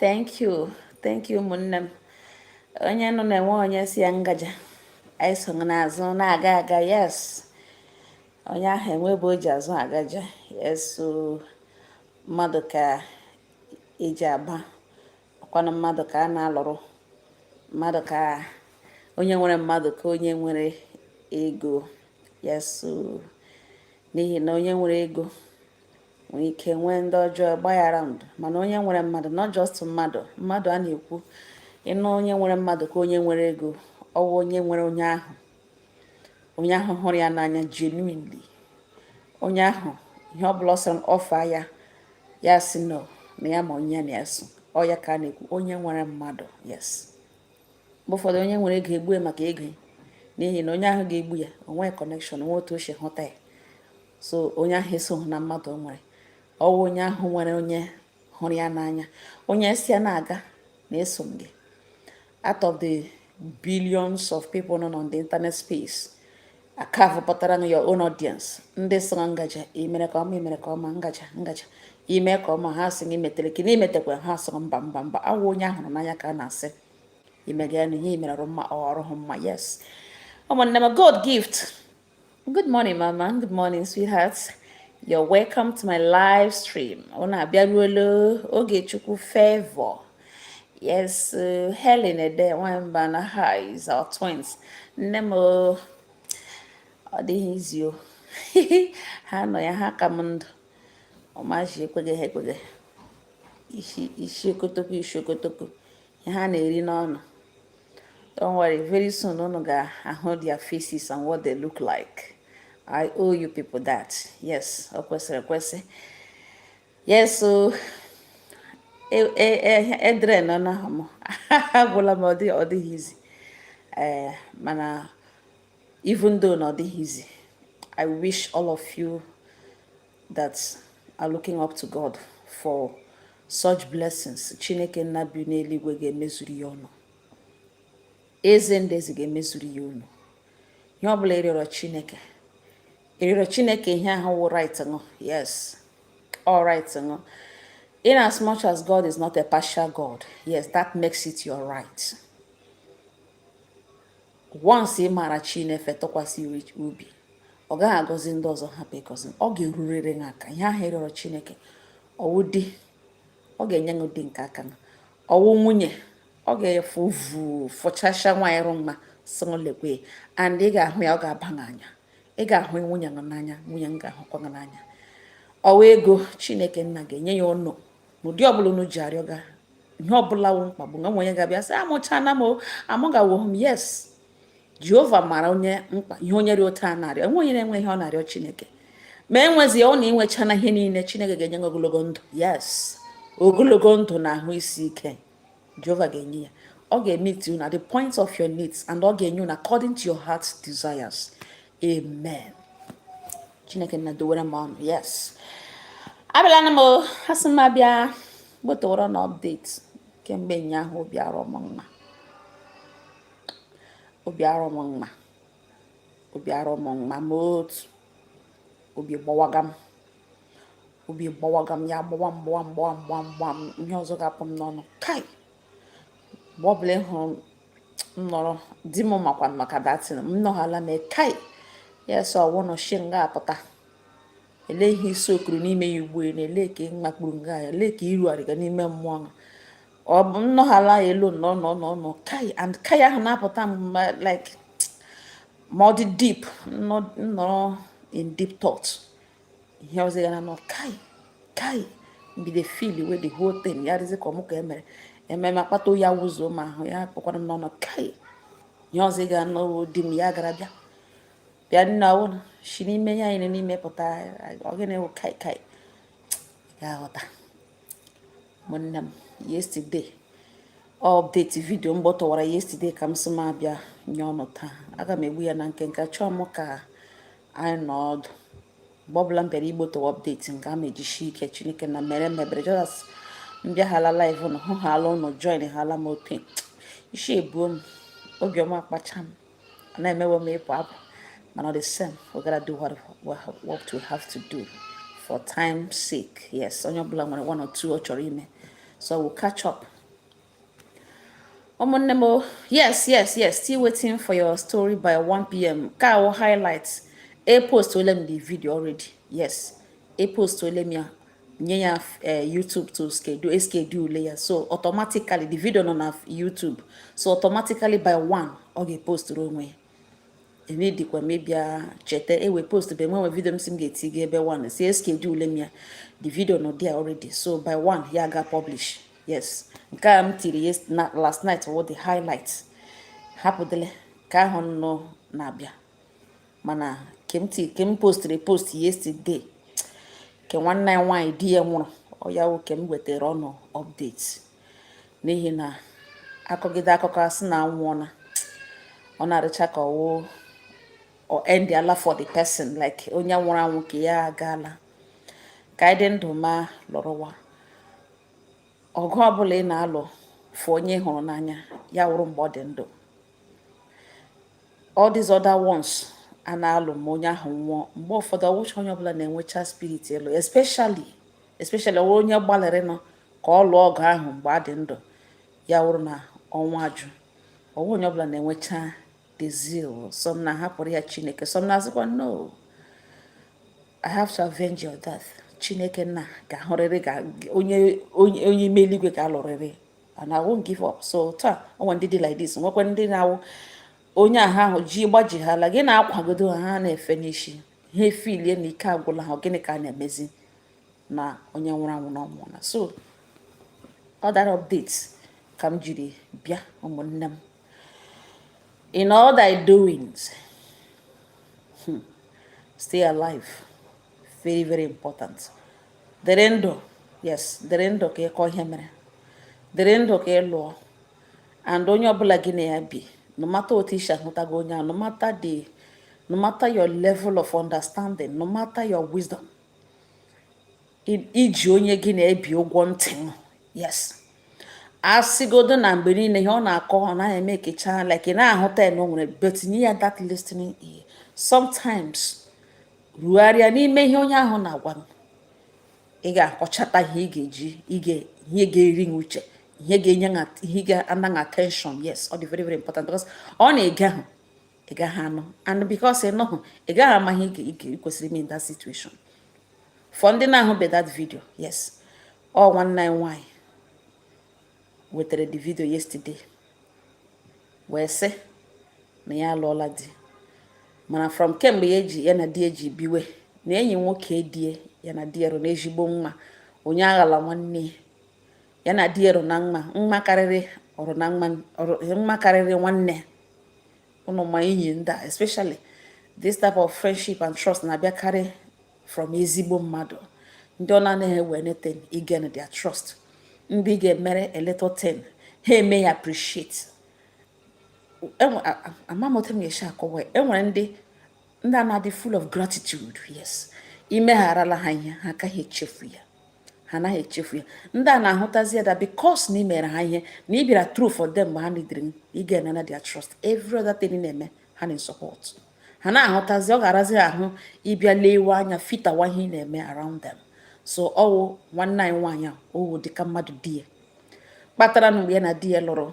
thank you thank you ụmụnne m onye nọ na-enwe onye sị ya ngaja anyị so gị n'azụ na-aga aga yes onye ahụ enwe ebe o ji azụ agaja yes so mmadụ ka e ji aba ọkwanụ mmadụ ka a na-alụrụ mmadụ ka onye nwere mmadụ ka onye nwere ego yes so n'ihi na onye nwere ego nwere ike nwee ndị ọjọọ gba ya around mana onye nwere mmadụ not just mmadụ mmadụ a na-ekwu ị nụ onye nwere mmadụ ka onye nwere ego ọ wụ onye nwere onye ahụ onye ahụ hụrụ ya n'anya genuinely onye ahụ ihe ọ bụla ọ sọrọ offer ya ya sị no na ya ma onye na ya so ọ ya ka a na-ekwu onye nwere mmadụ yes mgbe ụfọdụ onye nwere ego e gbuo ya maka ego n'ihi na onye ahụ ga-egbu ya o nwe connection o nwe otu o si hụta ya so onye ahụ esoghị na mmadụ o nwere ọ wụ onye ahụ nwere onye hụrụ ya n'anya onye sị ya na-aga na eso m gị out of the billions of people nọ on the internet space a carve pụtara ṅụ your own audience ndị sịrị ngaja i mere nke ọma i mere nke ọma ngaja ngaja ime ka ọma ha sị gị metere ka n'imetekwa ha sịrị mba mba mba ọ wụ onye a hụrụ n'anya ka a na-asị i mega ya na ihe i mere ọ rụ mma ọ ọ rụhụ mma yes ụmụnne m god gift good morning mama good morning sweetheart you're welcome to my live stream unu abịaruola ogechukwu favor Yes, uh, Helen Ede Nwamba na how is our twins. Nne m ọ dịghị easy o. ha nọ ya ha ka m ndụ. Ọmaji ekweghị ha ekweghị. Isi isi okotoko isi okotoko. Ihe ha na-eri n'ọnụ. Don't worry, very soon unu ga-ahụ their faces and what they look like. I owe you people that. Yes, ọ kwesịrị ekwesị. Yes, so e drain-ụọna ha m agwụla m ọ dịghị easy eh, mana even though na ọ dịghị easy I wish all of you that are looking up to God for such blessings Chineke nna bi n'eluigwe ga-emezuru ya unu eze ndị eze ga-emezuru ya unu ihe ọ bụla ị rịọrọ chineke ị rịọrọ chineke ihe ahụ wụ right ṅụ yes ọ wụ right ṅụ in as much as god is not a partial god yes that makes it your right once ị maara chineke tụkwasị obi ọ gaghị agọzi ndị ọzọ hapụ ịgọzi ọ ga-erurịrị gị aka ihe ahụ ị rịọrọ chineke ọ wụ di ọ ga-enye gị di nke aka ṅụ ọ wụ nwunye ọ ga-evu vufụchasịa nwaanyị rụ mma sị m lekwe and ị ga-ahụ ya ọ ga-aba gị n'anya ị ga-ahụ nwunye gị n'anya nwunye m ga-ahụkwa gị n'anya ọ wụ ego chineke nna ga-enye ya unu n'ụdị ọbụla unu ji arịọ ga ihe ọbụla wụ mkpagbu nwa nwenye ga-abịa sị amụchana m amụgawo m yes jehova mara onye mkpa ihe onye dị otu a na-arịọ enwe onye na-enwe ihe ọ na-arịọ chineke ma enwezie ọ na inwechana ihe niile chineke ga-enye gị ogologo ndụ yes ogologo ndụ na ahụ isi ike Jehova ga-enye ya ọ ga-emeet unu at the point of your needs and ọ ga-enye unu according to your heart's desires amen chineke nna dowere m unu yes abịalanụ m asị m abịa gbotoworo na update kemgbe ụnyaahụ obi arọ m mma obi arọ m mma obi arọ m mma ma otu obi gbawaga m obi gbawaga m ya gbawa mgbawa mgbawa mgbawa mgbawa m ihe ọzọ ga-apụ m n'ọnụ kai mgbe ọ bụla ị hụrụ m nọrọ dim makwa maka that thing m nọghala na kai ya sọ ọ wụ unu shi nga apụta ele ihe isi okwu rụ n'ime ya ugbu na ele ka mmakpuru nga ya ele ka iru arịga n'ime mmụọ na ọ bụ nnọghala ya elu no no no no kai and kai ahụ na-apụta m like ma ọ dị deep nọrọ in deep thought ihe ọzọ ị ga na-anụ kai kai m bido feeliwe the whole thing ya dịzị ka ọ mụ ka emere ememe akpata oyi awụzuo m ahụ ya kpọkwara m n'ọnụ kai ihe ọzọ ga-anọ dim ya gara bịa bịa nna ụlọ si n'ime ya anyị n'ime pụta ọ gịnị wụ kai kai ya ghọta ụmụnne m yesterday update vidio m gbotowara yesterday ka m sị m abịa nye unu taa aga m egbu ya na nkenke achọọ m ka anyị nọọ ọdụ mgbe ọbụla m bịara igbotowa update nke a ma ejishi ike chineke nna mere m ebere just m bịahala live ụnụ hụhala ụnụ joinhala m otu isi ebuo m obiọma kpacha m na-emewe m ịpụ apụ mana the same we gotta do what, what we have to do for time sake yes onye ọbụla nwere one or two ọ chọrọ ime so we'll catch up ụmụnne m yes yes yes still waiting for your story by 1 pm ke a wụ highlight epostuole m the video already yes epostuole m ya nye ya eh, YouTube to schedule schedule ya so automatically the video nọ na YouTube so automatically by 1 ọ ga-eposturu onwe ya ebe dịkwa m ịbịa cheta ewe post bụ enwenwe vidio m sị m ga-eti gị by 1 so eschedule m ya the video nọ there already so by 1 ya ga publish yes nke a m tiri last night wụ the highlight hapụdịle ke ahụ nọ na-abịa mana ke m postiri post yesterday ke nwanne anyị nwaanyị di ya nwụrụ ọ ya wụ ke m wetara unu update n'ihi na akọgide akụkọ asị na anwụọla ọ na-adịcha ka ọwụ ọ endịala for the person like onye nwụrụ anwụ nke ya agaala ka anyị dị ndụ ma lụrụwa ọgụ ọbụla ị na-alụ for onye ị hụrụ n'anya ya wụrụ mgbe ọ dị ndụ all these other ones a na-alụ ma onye ahụ nwụọ mgbe ụfọdụ ọwụcha onye ọbụla na-enwecha spirit ịlụ especially especially ọwụ onye gbalịrịnụ ka ọ lụọ ọgụ ahụ mgbe a dị ndụ ya wụrụ na ọnwa ajụ ọwụ onye ọbụla na-enwecha the zeal some na-ahapụrụ ya chineke some na-asịkwa no i have to avenge your death chineke nna ga-ahụrịrị ga onye onye onye ime eluigwe ga-alụrịrị and i won't give up so taa o nwe ndị dị like this nwekwa ndị na-awụ onye ahụ ji gbaji ha ala gị na-akwagodo ha na-efe n'isi ha efeelie na ike agwụla ha gịnị ka a na-emezi na onye nwụrụ anwụ na ọ nwụọna so other updates ka m jiri bịa ụmụnne m in all thy doings hmm, stay alive very very important dịrị ndụ yes dịrị ndụ ka ị kọọ ihe mere dịrị ndụ ka ị lụọ and onye ọbụla gị na ya bi no matter otu i si ahụtago onye a no matter the no matter your level of understanding no matter your wisdom i ji onye gị na ya bi ụgwọ ntị yes a sịgodu na mgbe niile ihe ọ na-akọ ọ naghị emekecha like ị na-ahụta ya na o nwere but nye ya that listening ear sometimes rogharịa n'ime ihe onye ahụ na-agwa gị ị ga-akọchata ihe ị ga-eji ihe ga-eri gị uche ihe ga-enye ihe ga-ana gị attention yes ọ dị very very important because ọ na i gehụ ị gaghị anụ and because ị nụhụ ị gaghị ama ihe ị kwesịrị ime in that situation for ndị na-ahụbe that video yes ọ nwanne anyị nwanyị wetara the video yesterday wee sị na ya alụọla di mana from kemgbe ya ji ya na di e ji biwe na enyi nwoke di e ya na di e rụ na ezigbo mma onye aghala nwanne ya na di e rụ na mma mma karịrị ọ rụ na mma mma karịrị nwanne ụnụ ma enyi ndị a especially this type of friendship and trust na-abịakarị from ezigbo mmadụ ndị ọ na-anaghị ewe anything ị gain their trust ndị ị ga-emere a little thing ha eme ya appreciate ama m otu m ga-esi akọwa enwere ndị ndị a na-adị full of gratitude yes imegharala ha ihe ha agaghị echefu ya ha anaghị echefu ya ndị a na-ahụtazi ya that because na ị mere ha ihe na ị bịara through for them mgbe ha needịrị m ị ga-enana their trust every other thing na-eme ha na support ha na-ahụtazi ọ ga-arazi ahụ ịbịa lewe anya fitawa ihe ị na-eme around them so ọ wụ nwanne anyị nwaanyị a ọ wụ dịka mmadụ di ya kpatara na mgbe ya na di ya lụrụ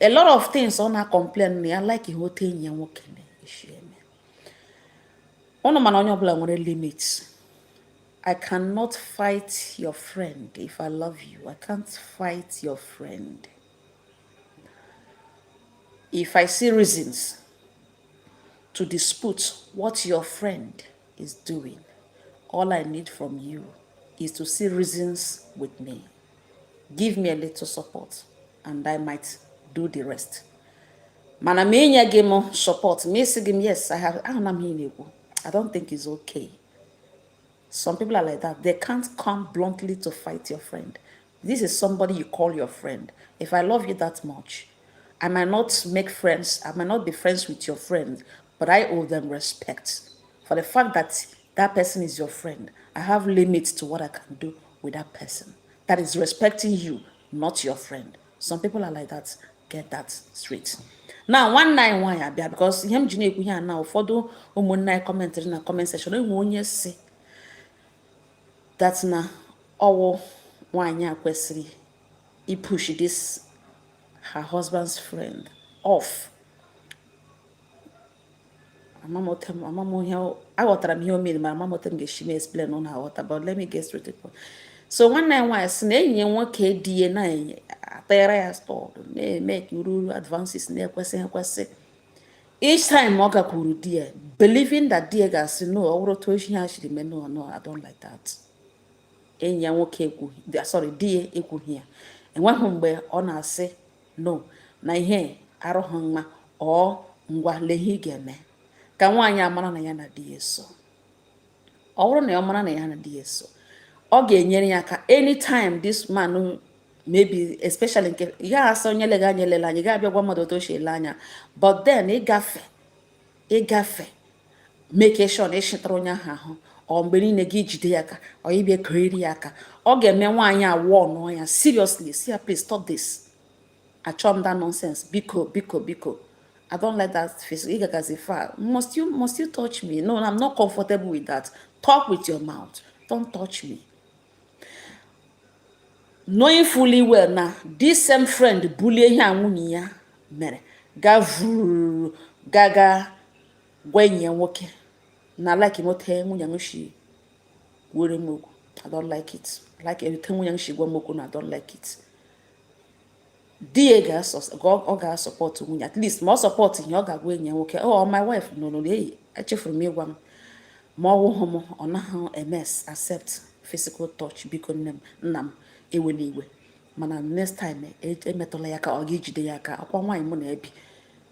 a lot of things ọ na-complain na ya like ihe otu enyi ya nwoke na-esi eme ụnụ mana onye ọbụla nwere limit I cannot fight your friend if I love you I can't fight your friend if I see reasons to dispute what your friend is doing all I need from you is to see reasons with me. give me a little support and I might do the rest mana ma enye gị m support ma esi gị m yes I have ahụna m ihe na-ekwu I don't think it's okay some people are like that they can't come bluntly to fight your friend this is somebody you call your friend if I love you that much I might not make friends I might not be friends with your friends but I owe them respect for the fact that that person is your friend. I have limits to what I can do with that person that is respecting you, not your friend. Some people are like that. Get that straight. na nwanne anyị nwaanyị a bịa because ihe m ji na-ekwu ihe a na ụfọdụ ụmụnne anyị commentịrị na comment section e nwee onye sị that na ọ wụ nwaanyị a kwesịrị ịpush this her husband's friend off ama m otu m ama m ihe aghọtara m ihe o mere ma ama m otu m ga-esi m explain unu aghọta but let me get straight to point so nwanne anyị nwaanyị sị na enyi ya nwoke di ya na-atara ya stọd na-eme ka uru uru advances na-ekwesịghị ekwesị each time ọ gakwuru di ya believing that di ya ga-asị no ọ bụrụ otu ihe ha shiri mee no no I don't like that enyi ya nwoke ekwughị sorry di ya ekwughị ya enweghị mgbe ọ na-asị no na ihe arụghị mma or ngwa lee ihe ị ga-eme ka nwaanyị a mara na ya na di ya so ọ bụrụ na ọ mara na ya na di ya so ọ ga-enyere ya aka anytime this man maybe especially nke ị gaghị asị onye lega anya elela anya ị gaghị abịa gwa mmadụ otu o si ele anya but then ịgafe ịgafe make sure na ị chịtara onye ahụ ahụ or mgbe niile gị ijide ya aka or ịbịa keriri ya aka ọ ga-eme nwaanyị a warnụọ ya seriously sị ya please stop this achọ m that nonsense biko biko biko I don't like that face. Ị gagazi far. Must you must you touch me? No, I'm not comfortable with that. Talk with your mouth. Don't touch me. knowing fully well na this same friend bulie ihe a nwunye ya mere ga vuru gaga gwa enyi ya nwoke na lekwenụ otu nwunye m shi gwara m okwu i don't like it lekwenụ otu nwunye m shi gwa m okwu na i don't like it di ya ọ ga-asupportụ nwunye at least ma ọ supportụ ihe ọ ga-agwa enyi ya nwoke ọ oh, my wife nọ n'ụlọ eyi echefuru m ịgwa m ma ọ wụghị m ọ naghị emes accept physical touch biko nne m nna m ewena iwe mana next time e, emetụla ya aka ọ ga-ejide ya aka ọ kwa nwaanyị mụ na-ebi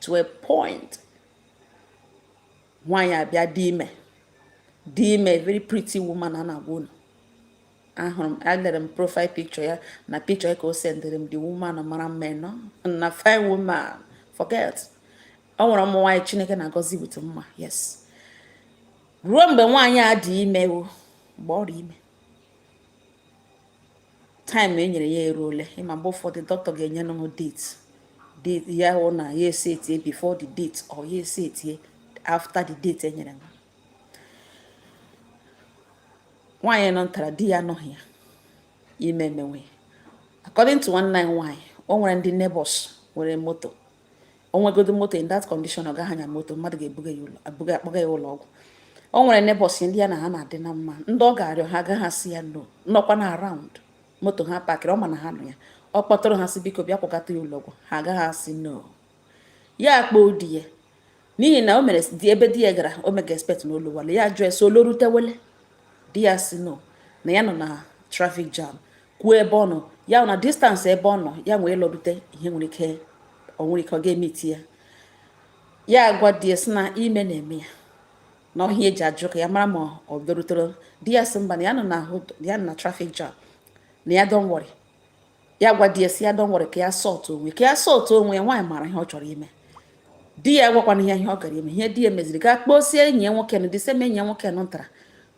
to a point nwaanyị a bịa dị ime dị ime very pretty woman a na-agwa unu ahụrụ m alere m profile picture ya na picture ya ka o sendịrị m the woman mara mma no na fine woman forget ọ nwere ụmụ nwaanyị chineke na-agọzi with mma yes ruo mgbe nwaanyị a dị ime o mgbe ọ dị ime time e nyere ya eruole ịma mgbe ụfọdụ dọkịta ga-enye nụ date ya hụ na ya esetie before the date or ya esetie after the date e nyere nwaanyị nọ ntara di ya anọghị ya ime emewe according to nwanne anyị nwaanyị o nwere ndị neighbors nwere moto o nwegodo moto in that condition ọ gaghị anya moto mmadụ ga-ebuga ya ụlọ abuga akpọga ya ụlọ ọgwụ o nwere neighbors ndị ya na ha na-adị na mma ndị ọ ga-arịọ ha agaghị asị ya no nọkwa na around moto ha pakịrị ọ ma na ha nọ ya ọ kpọtụrụ ha sị biko bịa kpọgata ya ụlọ ọgwụ ha agaghị asị no ya akpọ di ya n'ihi na o mere di ebe di ya gara o mega expect na ọ lọwale ya jụọ ya sị ọ lọrutewele di ya sị no na ya nọ na traffic jam kwuo ebe ọ nọ ya na distance ebe ọ nọ ya wee lọrute ihe nwere ike ọ nwere ike ọ ga-emeti ya ya agwa di ya sị na ime na-eme ya na ọ ihe ya ji ajụ ka ya mara ma ọ bịarutere di ya sị mba na ya nọ na traffic jam na ya don't worry ya gwa di ya sị ya don't worry ka ya sort onwe ka ya sort onwe ya nwaanyị mara ihe ọ chọrọ ime di ya gwakwanụ ya ihe ọ gara ime ihe di ya meziri gaa kpọsie enyi ya nwoke na the same enyi ya nwoke nụ ntara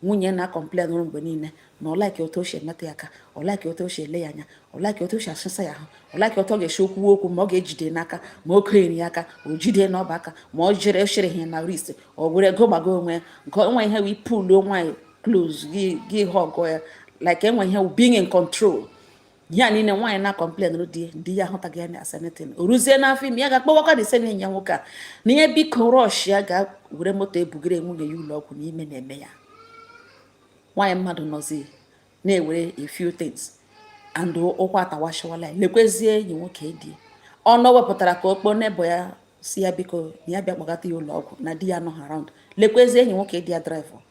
nwunye na-acomplainụrụ mgbe niile na ọ like otu o si emetụ ya aka ọ like otu o si ele ya anya ọ like otu o si asụsa ya ahụ ọ like otu ọ ga-esi ekwu okwu ma ọ ga-ejide n'aka ma o kenyere ya aka o jide n'ọba aka ma ọ jere chere ihe na wrist ọ were ego gbago onwe ya nke onwe ihe wee puluo nwaanyị close gị hug ya like enwe ihe being in control ihe a niile nwaanyị na-acomplainụrụ di di ya ahụtaghị ya as anything o ruzie n'afọ ime ya gaa kpọwakwa the same enyi ya nwoke a na ihe biko rush ya ga were moto ebugere nwunye ya ụlọ ọgwụ na ime na-eme ya nwaanyị mmadụ nọzi na-ewere a few things and ukwu atawachawala ya lekwezie enyi nwoke di ọ nọ wepụtara ka ọ kpọọ neighbor ya sị ya biko na ya bịa kpọgata ya ụlọ ọgwụ na di ya nọ around lekwezie enyi nwoke di ya draịva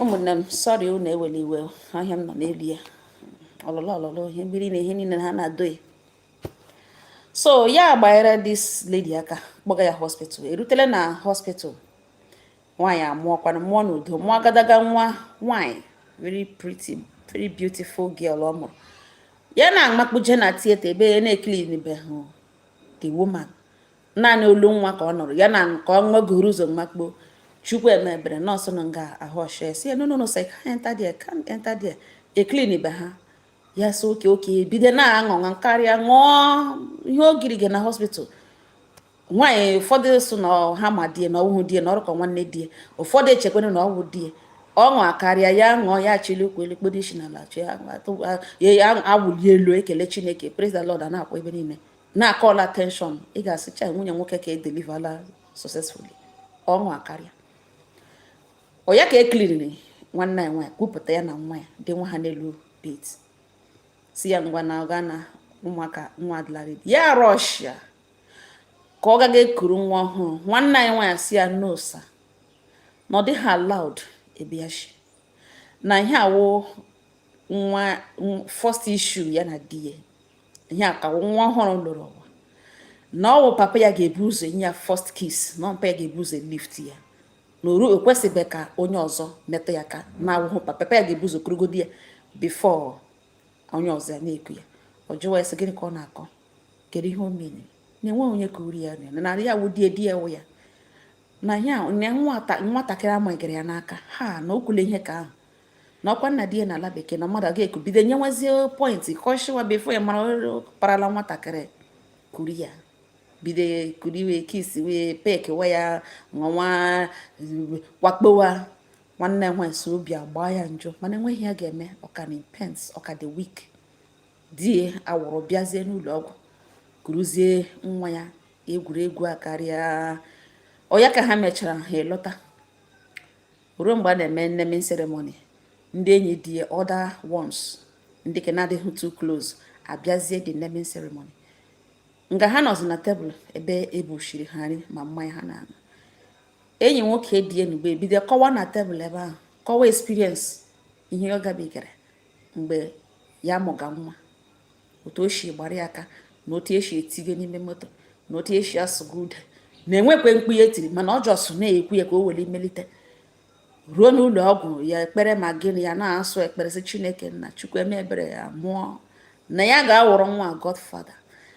ụmụnne m sorry unu ewela iwe ahịa m nọ n'elu ya ọlụlụ ọlụlụ ihe mmiri na ihe niile ha na-adoghị so ya gbanyere this lady aka kpọga ya hospital erutela na hospital nwaanyị amụọkwanụ mụọ n'udo mụọ agadaga nwa nwaanyị very pretty very beautiful girl ọ mụrụ ya na-amakpuje na theatre ebe ya na-eclean be ha the woman naanị olu nwa ka ọ nụrụ ya na ka ọ nwegoro ụzọ makpuo chukwu emebere nọọsụ nọ nga ahụ ọchịa sị ya no no no sị can't enter there can't enter there e clean be ha ya sị okay okay bido na-aṅụ ọṅụ akarịa ṅụọ ihe ogiri gị na hospital nwaanyị ụfọdụ sị na ha ma di e na ọ wụhụ di e na ọ dị ka nwanne di e ụfọdụ echekwere na ọ wụ di e ọṅụ akarịa ya ṅụọ ya chili ụkwụ elu kpodo isi n'ala ya awụli elu ekele chineke praise the lord a na-akwa ebe niile na-akọl attention ị ga-asịcha nwunye nwoke ka edelivala successfully ọṅụ akarịa oya ka e kilinịrị nwanne anyị nwaanyị kupụta ya na nwa ya dị nwa ha n'elu bed si ya ngwa na ọga na ụmụaka nwa adịla ready ya rọshia ka ọ gaga ekuru nwa ọhụrụ nwanne anyị nwaanyị si ya no sir na ọ dịghị allowed ebe a shị na ihe a wụ nwa first issue ya na di ya ihe a ka nwa ọhụrụ lụrụ ụwa na ọ wụ papa ya ga-ebu ụzọ nye ya first kiss na papa ya ga-ebu ụzọ lift ya na oru ekwesịbeghị ka onye ọzọ metụ ya aka na-awụhụ papa ya ga-ebu ụzọ kurugodi ya before onye ọzọ ya na-eku ya ọ jụwa ya sị gịnị ka ọ na-akọ kedu ihe o mere na enweghị onye ka kuru ya na narị ya wụ di ya di ya wụ ya na ya nwatakịrị amagịrị ya n'aka ha na o kwule ihe ka ahụ na ọkwa nna di ya n'ala bekee na mmadụ aga-eku bido nyewazie point ka ọ shịwa before ya mara parala nwatakịrị kuru ya bido kuru ya kiss wa ya peck wa ya nwa wakpowa nwanne nwaanyị sị obi agbaa ya njọ mana enweghị ihe ya ga-eme ọ ka nọ na pains ọ ka dị weak di ya awụrụ bịazie n'ụlọ ọgwụ kuruzie nwa ya egwuregwu akarịa oya ka ha mechara ha alọta ruo mgbe a na-eme naming ceremony ndị enyi di ya other ones ndị ke na-adịghị too close abịazie the naming ceremony nga ha nọzi na tebụl ebe ebuchiri ha nri ma mmanya ha na-aṅụ enyi nwoke di ya nugbe ebido kọwa na tebụl ebe ahụ kọwa experience ihe ọ gabigara mgbe ya mụga nwa otu o si gbara ya aka na otu esi etige n'ime moto na otu esi asụga ude na e nwekwe mkpu ya tiri mana ọ just na-ekwu ya ka o were melite ruo n'ụlọ ọgwụ ya ekpere ma gịnị ya na-asụ ekpere sị chineke nna chukwu mee ebere ya mụọ na ya ga-awụrụ nwa godfather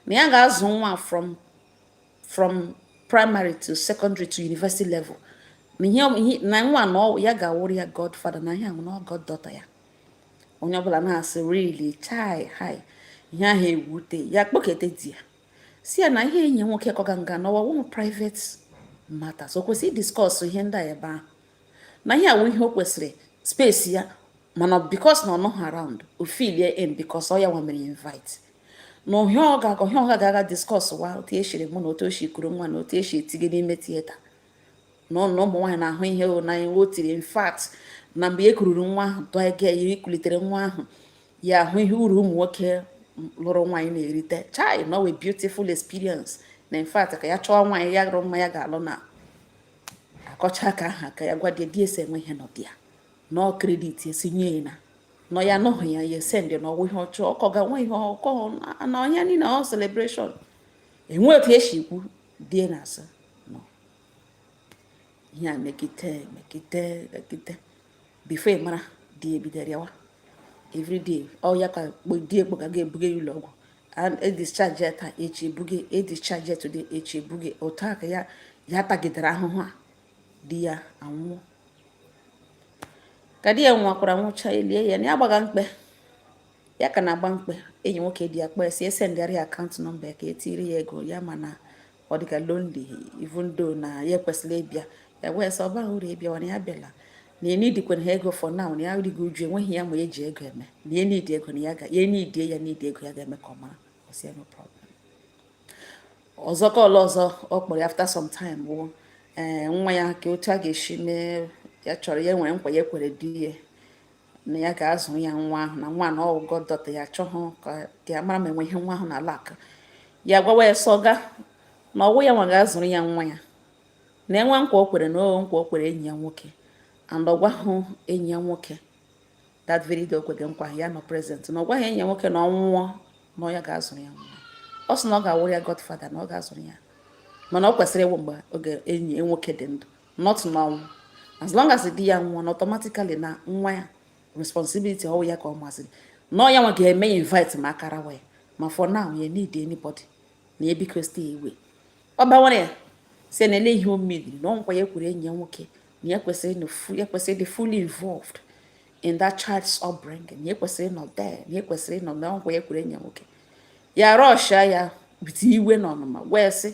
na ya ga-azụ nwa from primary to secondary to university level na nwa na ya ga-awụrụ ya godfather na ihe ahụ na goddaughter ya onye ọbụla na-asị really chai hai ihe ahụ ewute ya kpọkete di ya si ya na ihe enyi nwoke kọga nga n'ọwa wụ private matters o kwesịrị discuss ihe ndị a ebe ahụ na ihe a wụ ihe o kwesịrị space ya mana because na ọ nọghị around o filie in because ọ ya nwa mere invite na ihe ọ ga-aga discuss wa otu eshiri mụọ na otu o shi kuru nwa na otu eshi etige n'ime theatre na ọ na ụmụ nwaanyị na-ahụ ihe o na o tiri in fact na mgbe e kururu nwa ahụ tụọ ike ya ikulitere nwa ahụ ya ahụ ihe uru ụmụ nwoke lụrụ nwaanyị na-erite chai na ọ wụ beautiful experience na in fact ka ya chọọ nwaanyị ya rụrụ mma ya ga-alụ na akọcha aka aha ka ya gwa di di asị enwe ihe nọdụ ya nọ credit esi nye ya na nọ ya anọghị ya ya esend na ọ wụ ihe ọchụ ọkọ ga nwe ihe ọkọ na onye niile ọ celebration enwe otu esi ikwu di ya asị ihe a mekite mekite mekite before ị mara di ebido rịawa everyday ọ ya ka di ekpo ka ga-ebuga ya ụlọ ọgwụ edischarge taa echi ebuge edischarge today echi ebuge otu a ka ya ya tagidere ahụhụ a di ya anwụọ ka di ya nwụkwara nwụcha elie ya na ya gbaga mkpe ya ka na-agba mkpe enyi nwoke di ya kpọọ sị ya sendịara account number ya ka e tiiri ya ego ya mana ọ dịga lonely even though na ya ekwesịla ịbịa ya wee sị ọ bahụ uru ịbịa na ya abịala na ya eneedikwanahụ ego for now na ya ruga uju enweghị ya ma eji ego eme na ya needi ego na ya ga ya needie ya needi ego ya ga-eme ka ọ mara ọ sị no problem ọzọ ka ọla ọzọ ọ kpọrọ ya after some time bụ ee eh, nwa ya ka otu a ga-esi mee ya chọrọ ya nwere nkwa ya kwere di ya na ya ga-azụ ya nwa ahụ na nwa na ọ wụ goddaughter ya chọhụ ka ya mara ma enwe ihe nwa ahụ na-alack ya gwawa ya sọga na ọ wụ ya nwa ga-azụrụ ya nwa ya na enwe nkwa o kwere na o nkwa o kwere enyi ya nwoke and ọ gwahụ enyi ya nwoke that very day o kwere nkwa ya nọ present na ọ gwahụ enyi ya nwoke na ọ nwụọ na ọ ya ga-azụrụ ya nwa ọ sị na ọ ga-awụrụ ya godfather na ọ ga-azụrụ ya mana ọ kwesịrị ịwụ mgbe oge enyi nwoke dị ndụ not n'ọnwụ as long as di ya nwụọ na automatically na nwa ya responsibility ọ wụ ya ka ọ masịrị na ọ ya nwa ga-eme ya invite ma ọ karawa ya ma for now ya need anybody na ya biko stay away ọ bawara ya sị na ele ihe o medịrị na ọ nkwa ya kwere enyi ya nwoke na ya kwesịrị ịdị fully involved in that child's upbringing na ya kwesịrị ịnọ there na ya kwesịrị ịnọ na ọ nkwa ya kwere enyi ya nwoke ya rushia ya with iwe na ọnụma wee sị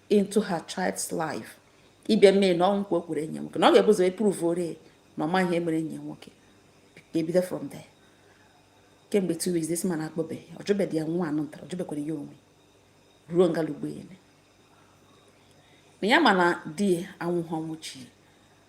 into her child's life ịbịa mee na ọ wụ nkwa o kwere enyi ya nwoke na ọ ga-ebu ụzọ proveoro ya na ọ mahụ ihe mere enyi ya nwoke ebido from there kemgbe two weeks this man akpọbeghị ọ jụbeghị ya nwa anụ ntara ọ jụbekwara ya onwe ruo ngalugbo ya na ya ma na di ya anwụghị ọnwụ chi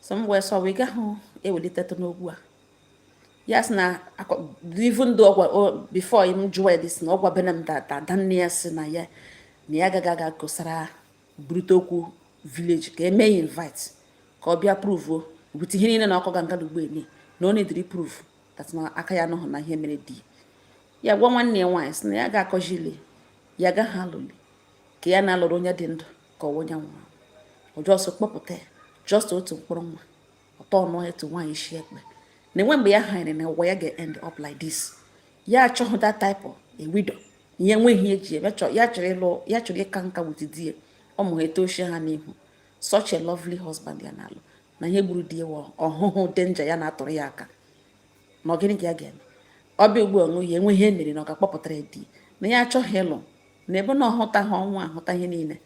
so m wee sị why ị gahụ ewelitetụ n'okwu a ya sị na even though ọ gwa before m jụọ ya sị na ọ gwabena m that adanne ya sị na ya na ya ga-aga kọsara burute okwu village ka eme ya invite ka ọ bịa prove with ihe niile na ọ kọga nga ugbo ene na ọ needịrị prove that na aka ya nọhụ na ihe mere di ya gwa nwanne ya nwaanyị sị na ya ga-akọjili ya gaghị alụli ka ya na-alụrụ onye dị ndụ ka ọwa onye nwụrụ ọjọsọ kpọpụta ya just otu mkpụrụ nwa ọtọ ọnụ etu nwaanyị isi ekpe na enwe mgbe ya hanyere na ụwa ya ga-end up like this ya achọghị that type of a widow ihe nweghị ihe ji eme ya chọrọ ịka nka with di ya ụmụ ha etochie ha n'ihu such a lovely husband ya na-alụ na ihe gburu di ya ọ hụhụ danger ya na-atụrụ ya aka ma ọ gịnị ka ya ga-eme ọbịa ugbu a nwunye enwe ihe mere na ọ ga-akpọpụtara di na ya achọghị ịlụ na ebe na ọ hụta ihe ọnwa ahụta ihe niile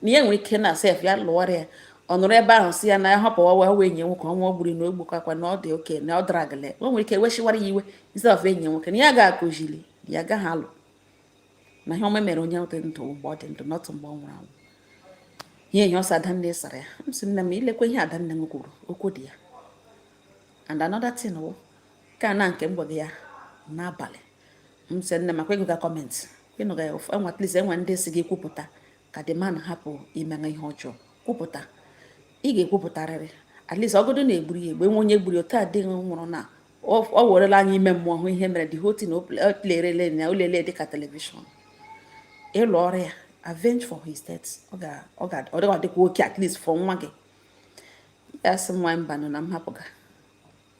na ya nwere ike na sef ya lụwara ya ọ nụrụ ebe ahụ sị ya na ya hapụwa wee enyi nwoke ọnwa gburu na ogbukakwa na ọ dị okay na ọ dara agale o nwere ike weshiwara ya iwe instead of enyi nwoke na ya ga-akụzili ya agaghị alụ na ihe ọma mere onye dị ndụ mgbe ọ dị ndụ not mgbe ọ nwụrụ anwụ ihe ihe ọsọ adanne sara ya m sị nne m i lekwa ihe adanne m kwuru okwu dị ya and another thing wụkwa na nke m gwara ya n'abalị m sị nne makwa ị gụga comment ị nụga ya ụfụ enwe at least enwe ndị sị gị kwupụta ka the man hapụ ime ihe ọjọọ kwupụta ị ga-ekwupụtarịrị at least ọgụdụ na egburu ya egbu nwe onye gburu otu a di gị nwụrụ na ọ werela anya ime mmụọ hụ ihe mere the whole thing na olerele ya olele dịka television ị lụọrọ ya avenge for his death ọ ga-adịkwa okay at least for nwa gị ya sị mụwa mbanụ na m hapụga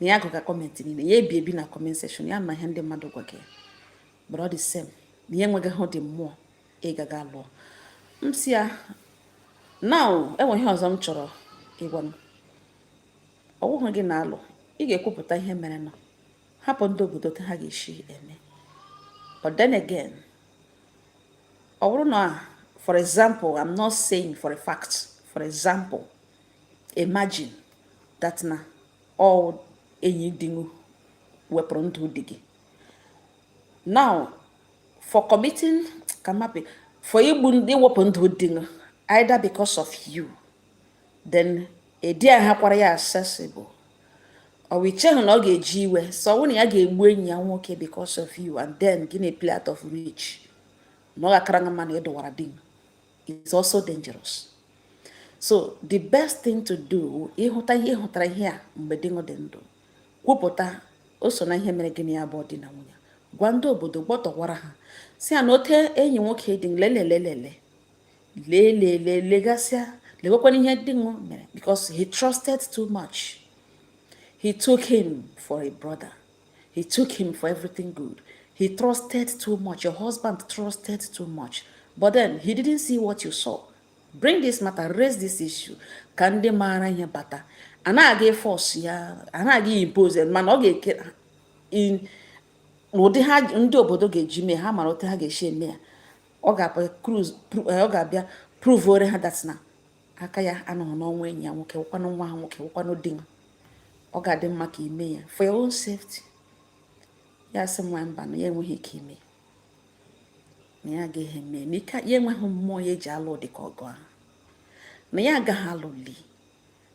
na ya agụga comment niile ya ebi ebi na comment section ya ma ihe ndị mmadụ gwa gị but all the same na ya enweghị ụdị mmụọ ịgaga lụọ m sị ya na enwe ihe ọzọ m chọrọ ịgwa gị ọ wụghị gị na-alụ ị ga-ekwupụta ihe merenụ hapụ ndị obodo ka ha ga-esi eme but then again ọ bụrụ na for example i'm not saying for a fact for example imagine that na ọ enyi di gị wepụrụ ndụ di gị now for committing kamapi for iwepụ ndụ di gị either because of you then ị dịghịkwara ya accessible ọ i cheghị na ọ ga-eji iwe so ọ na ya ga-egbu enyi ya nwoke because of you and then gị na-play out of reach na ọ ga-akara gị mma na ịdọwara di gị is also dangerous so the best thing to do ị hụta ihe hụtara ihe a mgbe di gị dị ndụ kwupụta o so n'ihe mere gị na ya bụ di na nwunye gwa ndị obodo gbọtọwara ha sị ya na otu enyi nwoke di lelelelele lelele legasịa lekwanụ ihe di gị mere because he trusted too much he took him for a brother He took him for everything good. He trusted too much. Your husband trusted too much. But then he didn't see what you saw. Bring this matter, raise this issue. Ka ndị maara ihe bata. Anaghị a force ya, anaghị e impose mana ọ ga-eke in n'ụdị ha ndị obodo ga-eji mee ha mara otu ha ga-esi eme ya. Ọ ga-abịa eh, prove ore ha that na aka ya anọghị n'ọnwụ enyi ya nwoke wụkwanụ nwa ha nwoke wụkwanụ di ya ọ ga-adị mma ka i mee ya for your own safety ya sị nwa mba na ya enweghị ike ime na ya agaghị eme na ike ya enweghị mmụọ ya eji alụ dị ka ọgụ ahụ na ya agaghị alụli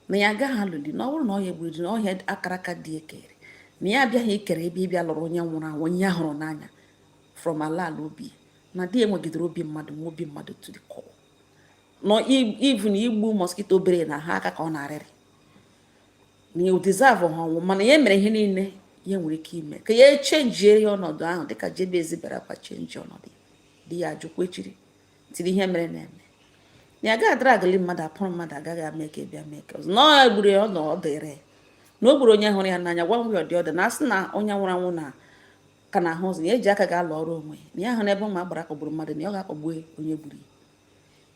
na ya agaghị alụli na ọ bụrụ na ọ ya egburu na ọ ihe akara aka dị ekere na ya abịaghị ikere ebe ịbịa lụrụ onye nwụrụ anwụ onye ya hụrụ n'anya from ala ala obi na di ya nwegidere obi mmadụ nwee obi mmadụ to the core na even igbu mosquito bere na ha aka ka ọ na-arịrị na ọ deservehụ ọnwụ mana ya mere ihe niile ya nwere ike ime ka ya chenjie ọnọdụ ahụ dịka Jabez bịara kwa chenji ọnọdụ di ya ajụkwa echiri tiri ihe merenụ eme na ya gaghị adragli mmadụ apụrụ mmadụ agaghị ama eke bịa mee ka ọzọ na ọ gburu ya ọ nọ ọ dịrị na o gburu onye hụrụ ya n'anya gwa ngwa ọdị ọdị na asị na onye nwụrụ anwụ na ka na ahụ ụzọ na ya eji aka ga-alụọrọ onwe na ya hụ n'ebe ụmụ agbara kpọgburu mmadụ na ya ọ ga-akpọgbu onye gburu ya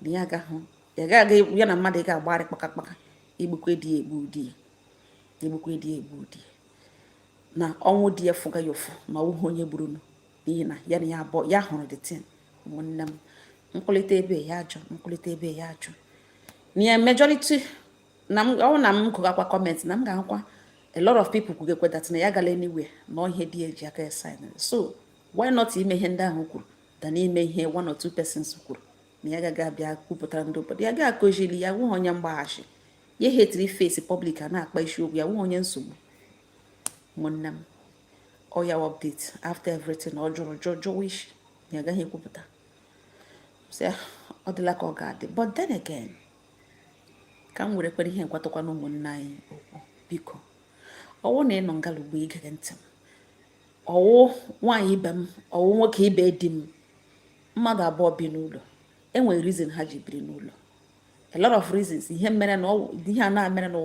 na ya agahụ ya ga-aga ya na mmadụ ga-agbagharị kpaka kpaka egbukwe di ya egbu di ya egbukwe di ya egbu di ya na ọnwụ di ya fụga ya ụfụ na ọwụghị onye gburu nụ n'ihi na ya na ya abụọ ya hụrụ the thing ụmụnne m m kwulite ebe ya ajụ m kwulite ebe ya ajụ na ya majority na m ọ na m gụgakwa comment na m ga-ahụkwa a lot of people kwugekwe that na ya agala anywhere na ihe di ya ji aka ya sign so why not ime ihe ndị ahụ kwuru than ime ihe one or two persons kwuru na ya gaghị abịa kwupụtara ndị obodo ya ga-akụziri ya awụghị onye mgbaghachi ya hetiri face public a na-akpa isiokwu ya awụghị onye nsogbu nwanne m ọ ya update after everything ọ jụrụ jụọ jụwa isi ya agaghị ekwupụta ọ dịla ka ọ ga-adị but then again ka m werekwara ihe a gwatụkwanụ ụmụnne anyị okwu biko ọwụ na ị nọ ngala ugbo igere ntị ma ọwụ nwaanyị ibe m ọwụ nwoke ibe di m mmadụ abụọ bi n'ụlọ enwere reason ha ji biri n'ụlọ a lot of reasons ihe mere na ihe a na-emere na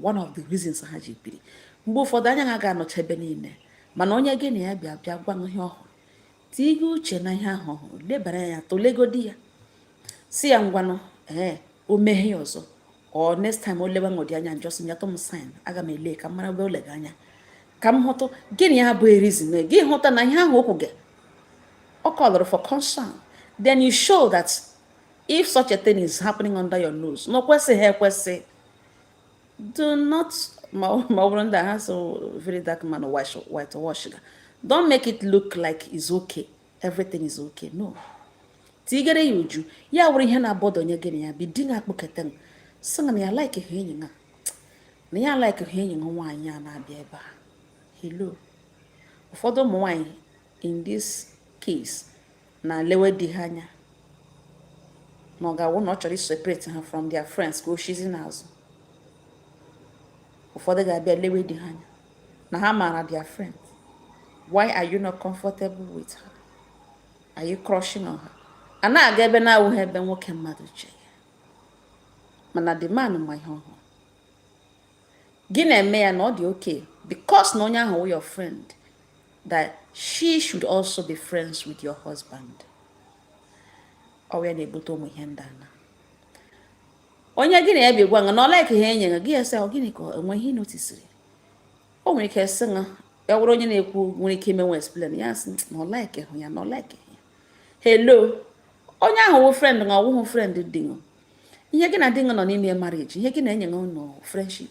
one of the reasons ha ji biri mgbe ụfọdụ anya ha ga-anọcha ebe niile mana onye gị na ya bi abịa gwa ihe ọ hụrụ tinye uche na ihe ahụ ọ hụrụ lebara ya tụlegodi ya sị ya ngwanụ ee o meghe ya ọzọ or next time o lewegodi anya just nyetụ m sign aga m ele ka m mara ebe o lega anya ka m hụtụ gịnị ya bụ reason ị hụta na ihe ahụ o kwuga ọ kọlụrụ for concern then you show that if such a thing is happening under your nose na o kwesịghị ekwesị do not ma ọ bụrụ ndị ha so very dark man white wash ga don't make it look like it's okay everything is okay no tigere ya uju ya wụrụ ihe na-abother onye gị na ya bi di na-akpọketa sị na ya like ha enyi a na ya like ha enyi nwaanyị a na-abịa ebe a hello ụfọdụ ụmụ nwaanyị in this case na lewe di ha anya na ọ ga-awụ na ọ chọrọ iseparate ha from their friends ka o shizi n'azụ ụfọdụ ga-abịa lewe di ha anya na ha maara their friend why are you not comfortable with her are you crushing on her a na-aga ebe na-awụghị ebe nwoke mmadụ che ya mana the man ma ihe ọ hụrụ gị na-eme ya na ọ dị okay because na onye ahụ wụ your friend that she should also be friends with your husband ọ ya na-ebute ụmụ ihe ndị a na onye gị na ya bi gwa nga na ọ like hụ enyi nga gị asị ọ gịnị ka enwe ihe noticeri o nwere ike sị nga ya wụrụ onye na-ekwu nwere ike imenwu explain ya sị na ọ like hụ ya na ọ like ya hello onye ahụ wụ friend nga ọ wụhụ friend di nga ihe gị na di nga nọ n'ime marriage ihe gị na enyi nga nọ friendship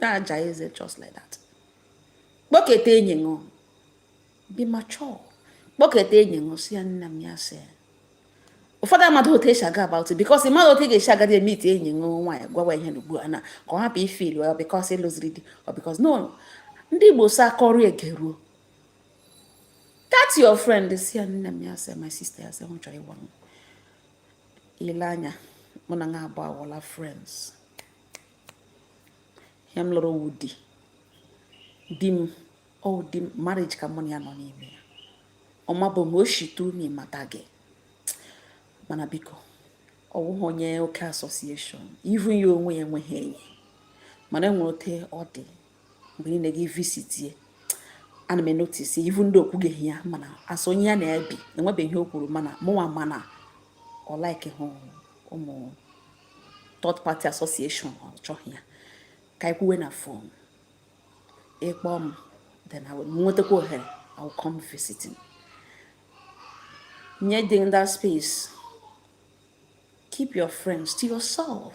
na-aja eze just like that kpọketa enyi ṅụ be mature kpọketa enyi ṅụ sị ya nna m ya sị ụfọdụ amahụ otu esi aga about it because ị maghị otu ị ga-esi agadi emeet enyi ṅụ nwaanyị gwawa ya na ugbu a na ka ọ hapụ ifeel ọ because ị lụziri di ọ because no ndị igbo sị akọrọ egeruo that your friend sị ya nne m ya sị my sister ya sị m chọrọ ịgwa m ị lee anya mụ na nga abụọ awụla friends ihe m lụrụ wụ di di m ọ wụ di m marriage ka mụ na ya nọ n'ime ya ọ ma bụ na o shitu na m mata gị mana biko ọ wụghị onye oke association even ya onwe ya enweghị enyi mana enwere ote ọ dị mgbe niile gị visitie ana m enotice even though o kwubeghị ya mana as onye ya na-ebi enwebeghị ihe o kwuru mana mụnwa ma na ọ like hụ ụmụ third party association ọ chọghị ya ka anyị kwuwe na phone ị kpọọ m then nwetakwa ohere I will come visiting nye di m that space keep your friends to yourself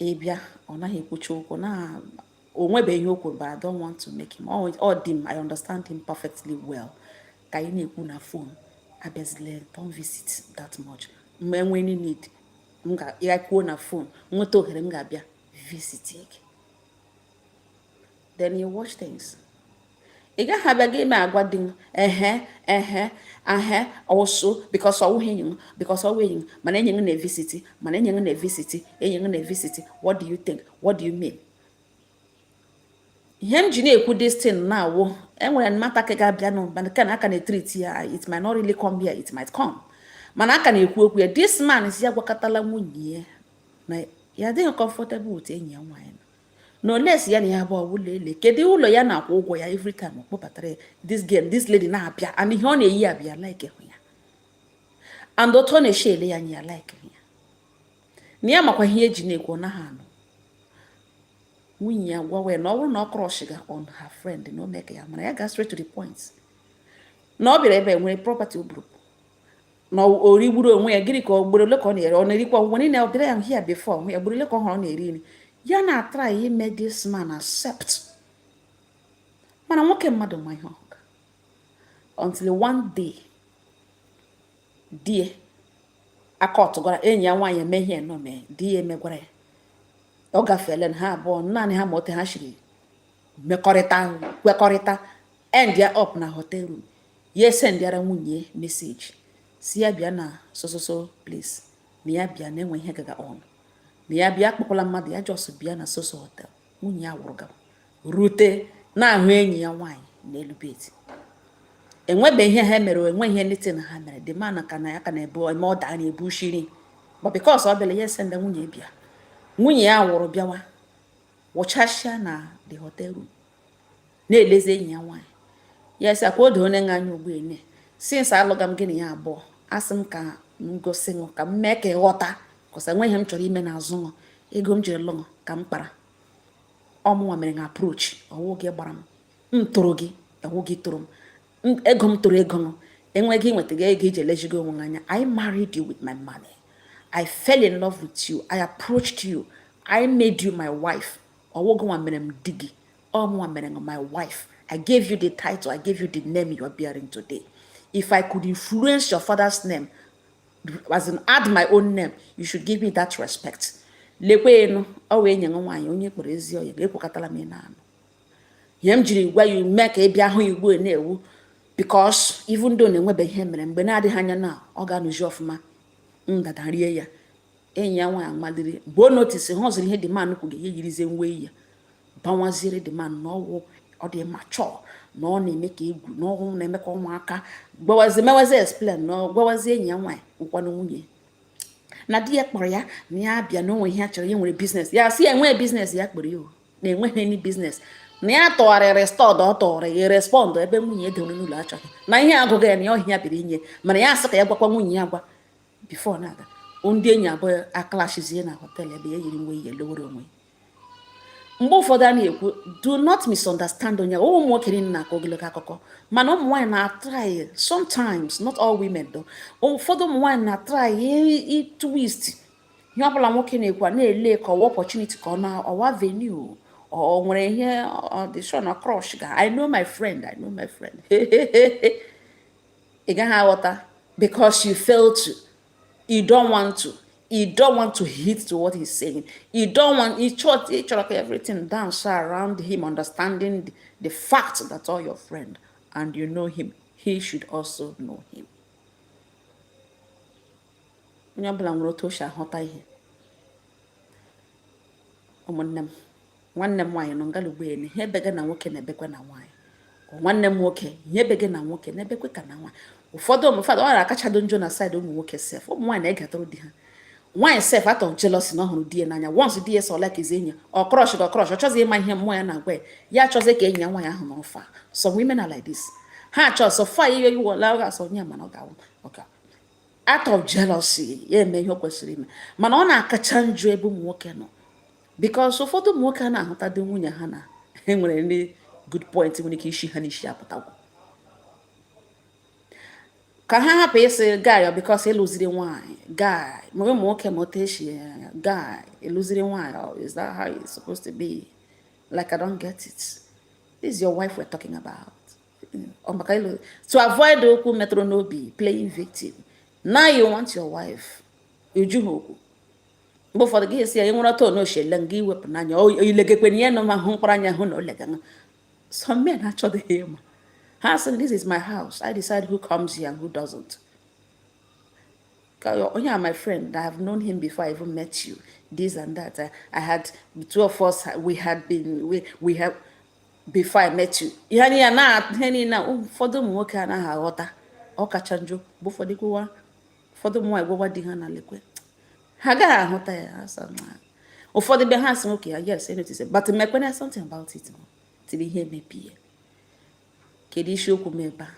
ị bịa ọ naghị ekwucha okwu na o nwebeghị ihe o kwuru but I don't want to make him ọ di m I understand him perfectly well ka anyị na-ekwu na phone abịazile don't visit that much mgbe enwee any need anyị kwuo na phone nweta ohere m ga-abịa visit gị then you watch things ị gaghị abịa gị ime agwa di m ehe ehe ahe also because ọwụghị enyi m because ọwụ enyi m mana enyi m na-evisiti mana enyi m na-evisiti enyi m na-evisiti what do you think what do you mean ihe m ji na-ekwu this thing na awụ enwere matter ka ga-abịa nụ mana ka na a ka na-etreat ya it might not really come here it might come mana a ka na-ekwu okwu ya this man si ya gwakọtala nwunye ya na ya adịghị comfortable with enyi ya nwaanyị na olesi ya na ya bụ ọwụlọ ele kedu ụlọ ya na-akwụ ụgwọ ya every time ọ kpọbatara ya this girl this lady na-abịa and ihe ọ na-eyi abịa likehụ ya and otu ọ na-eshi ele ya anya ya likehụ ya na ya makwa ihe eji na-ekwu ọ naghị anụ nwunye ya gwawa ya na ọ bụrụ na ọ crushiga on her friend na o mee ka ya mara ya ga straight to the point na ọ bịara ebe nwere property ọ bụrụ na o rigburu onwe ya gịnị ka ọ gburu ole ka ọ na-eri ọ na-erikwa ngwa niile ọ bịara ya here before onwe ya gburu ole ka ọ hụrụ ọ na-eri nri ya na-atry ime this man accept mana nwoke mmadụ ma ihe ọ hụga until one day di ya aka ọtụgwara enyi ya nwaanyị eme ihe nọ mee di ya emegwara ya ọ gafeela ha abụọ naanị ha ma ote ha siri mekọrịta kwekọrịta endịa up na hotel room ya esendịara nwunye message si ya bịa na so so so place na ya bịa na enwe ihe gaga on na ya bịa akpọkwala mmadụ ya just bịa na so so hotel nwunye ya wụrụ gawa rute na-ahụ enyi ya nwaanyị n'elu bed enwebe ihe ha mere enwe ihe nite na ha mere the man ka na ya ka na-ebu eme ọ daa na-ebu shiri but because ọ bịara ya esenda nwunye bịa nwunye ya wụrụ bịawa wụchasịa na the hotel room na-elezi enyi ya nwaanyị ya si akwa odo onye anya ugbu a na since alụga m gị na ya abụọ asị m ka m gosi ṅụ ka m mee ka ị ghọta cos enweghị ihe m chọrọ ime n'azụ ṅụ ego m jiri lụ ṅụ ka m kpara ọ mụnwa mere na approach ọwụ gị gbara m m toro gị ọwụ gị toro m ego m toro ego m enweghị nweta gị ego iji elejigo onwe anya I married you with my money I fell in love with you I approached you I made you my wife ọwụ gịnwa mere m di gị ọ mụnwa mere my wife i gave you the title i gave you the name you are bearing today if i could influence your father's name as in add my own name you should give me that respect lekwanụ ọwụ enyi nwaanyị onye kpọrọ ezi ọ ya ekwekọtala m ị na-anụ ihe m jiri gwa ya mee ka ị bịa hụ igbo na-ewu because even though na enwebeghị ihe mere mgbe na-adịghị anya na ọ ga-anụzi ọfụma ndada rie ya enyi ya nwaanyị amaliri mgbe o notisi ha ọzụrụ ihe the man kwuru ya yirizie iwe ya bawaziere the man na ọ wụ ọ dị mature na ọ na-eme ka egwu na ọhụụ na-eme ka ụmụaka gbawazi mewazi explain na gwawazi enyi ya nwaanyị ụkwanụ nwunye na di ya kpọrọ ya na ya bịa na o nwe ihe a chọrọ ya nwere business ya si ya enweghị business ya kpọrọ ya na enweghị any business na ya tụgharịrị stọd ọ tụgharị ya respond ebe nwunye edewere n'ụlọ achọghị na ihe agụghị ya na ya ọhịa biri inye mana ya asị ka ya gwakwa nwunye ya gwa before na-aga ndị enyi abụọ aclashizie na hotel ebe ya yiri iwe lowere onwe mgbe ụfọdụ a na-ekwu do not misunderstand onye ụmụ nwoke niile na-akọ ogologo akụkọ mana ụmụ nwaanyị na-atry sometimes not all women though ụfọdụ ụmụ nwaanyị na-atry twist ihe ọbụla nwoke na-ekwu a na-ele ka ọ wụ opportunity ka ọ na ọ wụ avenue o nwere ihe ọdishon crush ga I know my friend I know my friend ị gaghị aghọta because you fail to you don't want to you don't want to heed to what he's saying you don't want ị chọrọ ị chọrọ ka everything dance around him understanding the, the fact that ọ wụ your friend and you know him he should also know him onye ọbụla nwere otu o si ahụta ihe ụmụnne m nwanne m nwaanyị nọ ngalugbeene ihe ebe gị na nwoke na-ebekwa na nwaanyị nwanne m nwoke ihe ebe gị na nwoke na-ebekwe ka na nwaanyị ụfọdụ ụmụ fada ọ na-akachado njọ na side ụmụ nwoke sef ụmụ nwaanyị na-egetụrụ di ha nwaanyị sef out of jealousy na ọ hụrụ di ya n'anya once di ya sola ka ezi enyi ọ crush gị ọ crush ọ chọzi ịma ihe mmụọ ya na-agwa ya ya achọzi ka enyi ya nwaanyị ahụ nọ far some women are like this ha achọ so far ihe iwela ọ ga-asọ onye mana ọ ga-awụ okay out of jealousy ya eme ihe o kwesịrị ime mana ọ na-akacha njọ ebe ụmụ nwoke nọ because ụfọdụ ụmụ nwoke a na-ahụtadị nwunye ha na ha nwere ndị good point nwere ike isi ha n'isi apụtagwo ka ha hapụ ịsị guy because ị lụziri nwaanyị guy ma ụmụ nwoke ma otu e si guy ị lụziri nwaanyị oh, is that how it's supposed to be like i don't get it this is your wife we're talking about maka ịlụ to avoid okwu metụrụ n'obi playing victim now you want your wife uju ha okwu mgbe ụfọdụ gị sị ya nwere otu ọ na-eshi ele nga i wepụ n'anya ilegekwe na ihe nọ ma hụ mkpụrụ anya hụ na o lega nga some men achọdịghị ịma ha sị this is my house i decide who comes here and who doesn't onye a my friend i have known him before i even met you this and that i, I had the two of us we had been we, we have before i met you ihe niile na ihe niile ụfọdụ ụmụ nwoke anaghị aghọta ọ kacha njọ bụ ụfọdụ kwuwa ụfọdụ ụmụ nwaanyị gwawa di ha na lekwe ha agaghị ahụta ya asa na ụfọdụ be ha asị nwoke ya yes I notice but mekwena something about it till ihe mebie kedu isiokwu m ebe a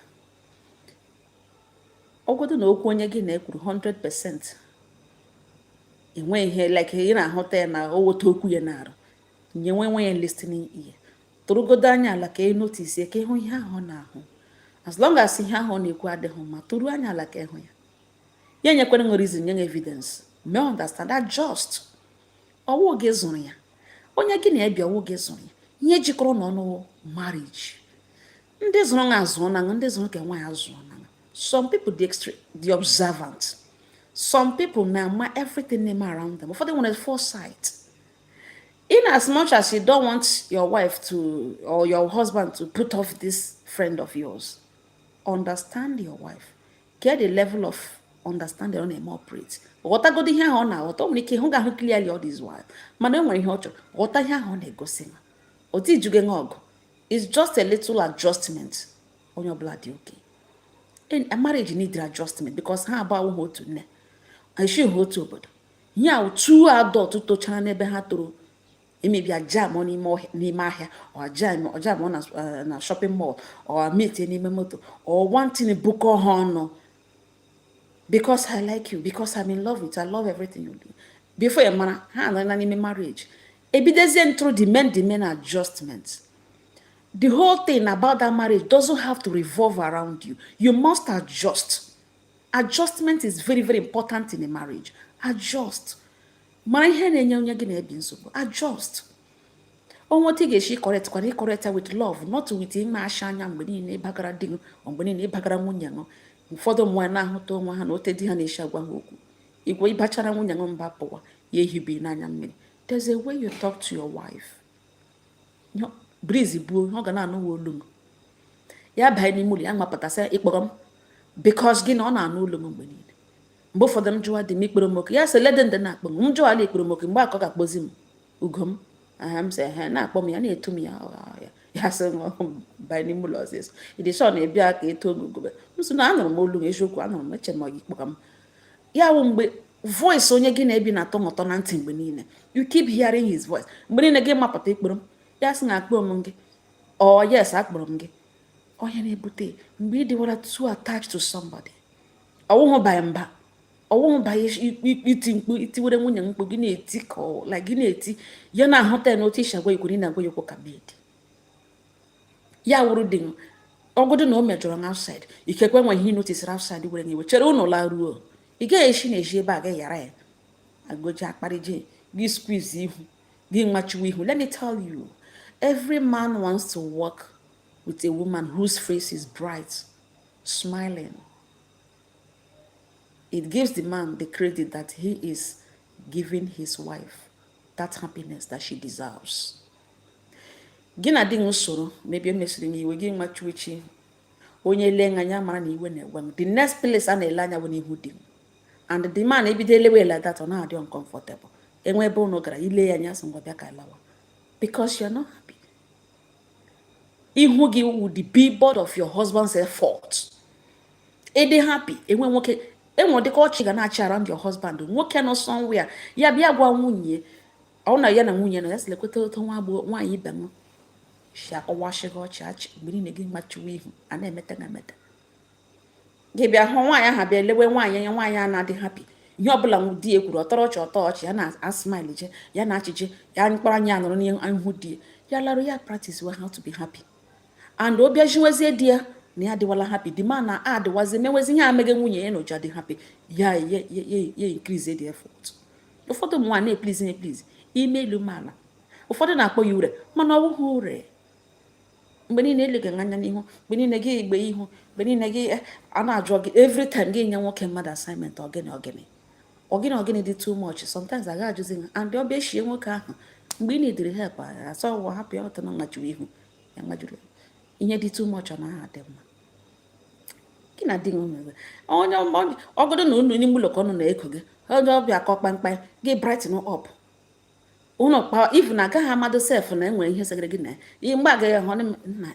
ọgwụdụ na okwu onye gị na-ekwuru 100% enweghị ihe like ị na-ahụta ya na ọ wụ ote okwu ya na-arụ nyewe nwaanyị listening ear tụrụgodo anya ala ka ị notice ka ịhụ ihe ahụ na-ahụ as long as ihe ahụ na-ekwu adịghị mma tụrụ anya ala ka ịhụ ya ya nyekwere nwere reason nye evidence mee understand just ọ wụ gị zụrụ ya onye gị na ya bi ọ wụ gị zụrụ ya ihe jikọrọ unu ọnụ marriage ndị zụrụ na azụọna ndị zụrụ kwa nwaanyị azụọna some people dị extra dị observant some people na-ama everything na-eme around them ụfọdụ nwere foresight in as much as you don't want your wife to or your husband to put off this friend of yours, understand your wife. Get the level of understanding ọ na-operate. ghọtagodo ihe ahụ ọ na-aghọta o nwere ike hụ ga ahụ clearly all this while mana o nwere ihe ọ chọrọ ghọta ihe ahụ ọ na-egosi ma otu ijuge nwa ọgụ it's just a little adjustment onye ọbụla dị okay marriage need adjustment because ha abụọ awụghị otu nne esighị ha otu obodo ya two adults tochara n'ebe ha toro maybe a jam n'ime ahịa or jam ọ eh, na shopping mall or meet n'ime moto or one thing bukọọ ha ọnụ because i like you because i'm in love with you i love everything you do before you mara ha anọla n'ime marriage ebidezie true the main the main adjustment the whole thing about that marriage doesn't have to revolve around you you must adjust adjustment is very very important in a marriage adjust mara ihe na-enye onye gị na ya bi nsogbu adjust onwe otu ị ga-esi correct kwana correct with love not with ime asha anya mgbe niile ị bagara di gị mgbe niile ị bagara nwunye gị ụfọdụ ụmụ nwaanyị na-ahụta onwe ha na ote di ha na-esi agwa ha okwu mgbe ị bachara nwunye gị mba pụwa ya ehibe n'anya mmiri there's a way you talk to your wife breeze buo ọ ga na-anụwa olu gị ya banye n'ime ụlọ ya mapụta sị ị kpọrọ m because gịnị ọ na-anụ olu gị mgbe niile mgbe ụfọdụ m jụwa di m ị kpọrọ m oku ya sị lede ndị na-akpọ m m jụwala ị kpọrọ m oku mgbe akọ ga-akpọzi m ugo m aha m sị ehe na-akpọ m ya na-etu m ya ya ya sị banye n'ime ụlọ ọzọ ịdị shọ na-ebia ka eto ogogobe m sị na anụrụ m olu gị eziokwu anụrụ m eche m ị kpọrọ m ya wụ mgbe voice onye gị na ya bi na-atọ gị ụtọ na ntị mgbe niile you keep hearing his voice mgbe niile gị mapụta ị kpọrọ m ya sị na akpọ m gị or yes akpọrọ m gị ọ ya na-ebute mgbe ị dịwala too attached to somebody ọwụhụ by mba ọwụhụ by iti mkpu ị tiwere nwunye mkpu gị na-eti ka like gị na-eti ya na-ahụta ya n'otu i si agwa ikwere ị na-agwa ya okwu ka bedi ya wụrụ di ọ godu na o mejọrọ na outside ikekwe nwe ihe ị noticeri outside were nyewe chere ụnụ laruo ị gaghị esi n'ezi ebe a gị ghara ya agoji akparịji gị squeeze ihu gị nwachiwe ihu let me tell you every man wants to walk with a woman whose face is bright smiling it gives the man the credit that he is giving his wife that happiness that she deserves gị na di gị soro maybe emesiri gị iwe gị nwachiwechi onye lee anya ya mara na iwe na-ewe gị the next place a na-ele anya bụ n'ihu di gị and the man ebido elewe like that ọ na-adị uncomfortable enwe ebe ụnụ gara ị lee ya anya sị ngwa bịa ka alawa because you're not happy ihu gị wu the billboard of your husband's effort ịdị happy enwe nwoke enwe dịka ọchị ị ga na-achị around your husband nwoke nọ somewhere ya bịa gwa nwunye ọ na ya na nwunye nọ ya sị lekweta otu nwaanyị ibe gị si akọwasịghị ọchị achị mgbe niile gị machiwe ihu a na-emeta na emeta gị bịa hụ nwaanyị ahụ bịa lewe nwaanyị anya nwaanyị a na-adị happy ihe ọbụla di ya kwuru ọ tọrọ ọchị ọ tọ ọchị ya na-asmileje ya na-achịje ya mkpụrụ anya anọrọ n'ihu di ya ya larụ ya practicewe how to be happy and obi eshiwezie di ya na ya adịwala happy the man na adịwazi mewezi ihe ameghe nwunye ya na o ji adị happy ya ya increase the effort ụfọdụ ụmụ nwaanyị na-eplease eplease i mee elu mee ala ụfọdụ na-akpọ ya ure mana ọ bụghị ure mgbe niile ele gị anya n'ihu mgbe niile gị igbe ihu mgbe niile gị eh, a na-ajụ gị every time gị nye nwoke mmadụ assignment ọ gịnị ọ gịnị ọ gịnị ọ gịnị dị too much sometimes a ga-ajụzi ha and obi eshie nwoke ahụ mgbe ị na-ediri help asọ ụwa hapụ ya ọtọ na mmachiwe ihu ya mmadụ ihe dị too much ọ naghị adị mma gị na di nwere onye ọ godu na unu nọ n'ime ụlọ ka ọnụ na-eko gị onye ọbịa kụọ kpamkpam gị brighten up ụnụ akpa even na agaghị amadụ sef na enwere ihe segara gị na ya mgbe agaghị ahụ na